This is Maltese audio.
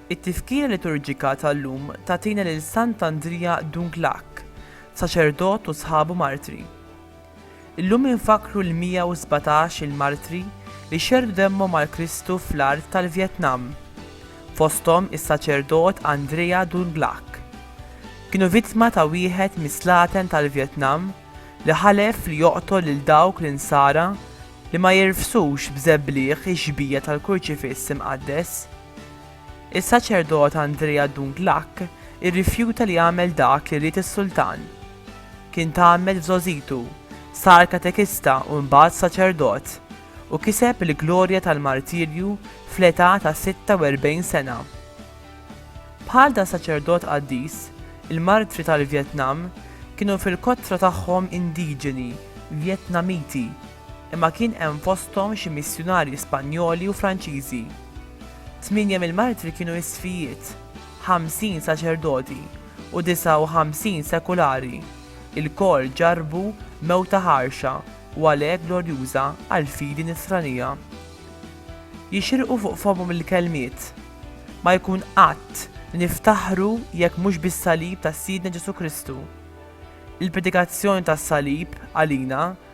It-tifkira liturġika tal-lum tagħtina lil Sant'Andrija Dunglac, saċerdot u sħabu martri. Illum infakkru l-117 il-martri li xerrdu demmhom għal Kristu fl-art tal-Vjetnam, fosthom is-saċerdot Andrea Dun Glak. Kienu vittma ta' wieħed mis-slaten tal-Vjetnam li ħalef li joqtol lil dawk l-Insara li ma jirfsux b'żebligħ ix-xbija tal-Kurċifiss Imqaddes. Is-saċerdot Andrea Dunglac irrifjuta li jagħmel dak li ried is-sultan. Kien tgħammed f'żgħożitu, sar katekista u mbagħad saċerdot, u kiseb il-glorja tal-martirju fl-età ta' 46 sena. Bħal dan saċerdot qaddis, il-martri tal-Vjetnam kienu fil-kotra tagħhom indiġeni Vjetnamiti. imma kien hemm fosthom xi missjunarji Spanjoli u Franċiżi. Tmienja mill-martri kienu isfijiet, ħamsin saċerdoti, u disgħa u ħamsin sekulari, ilkoll ġarrbu mewta ħarxa u għalhekk glorjuża għall-fidi Nisranija. Jixirqu fuq fommhom il-kelmiet, Ma jkun qatt li niftaħru jekk mhux bis-salib ta' Sidna Ġesù Kristu. Il-predikazzjoni tas-salib, għalina,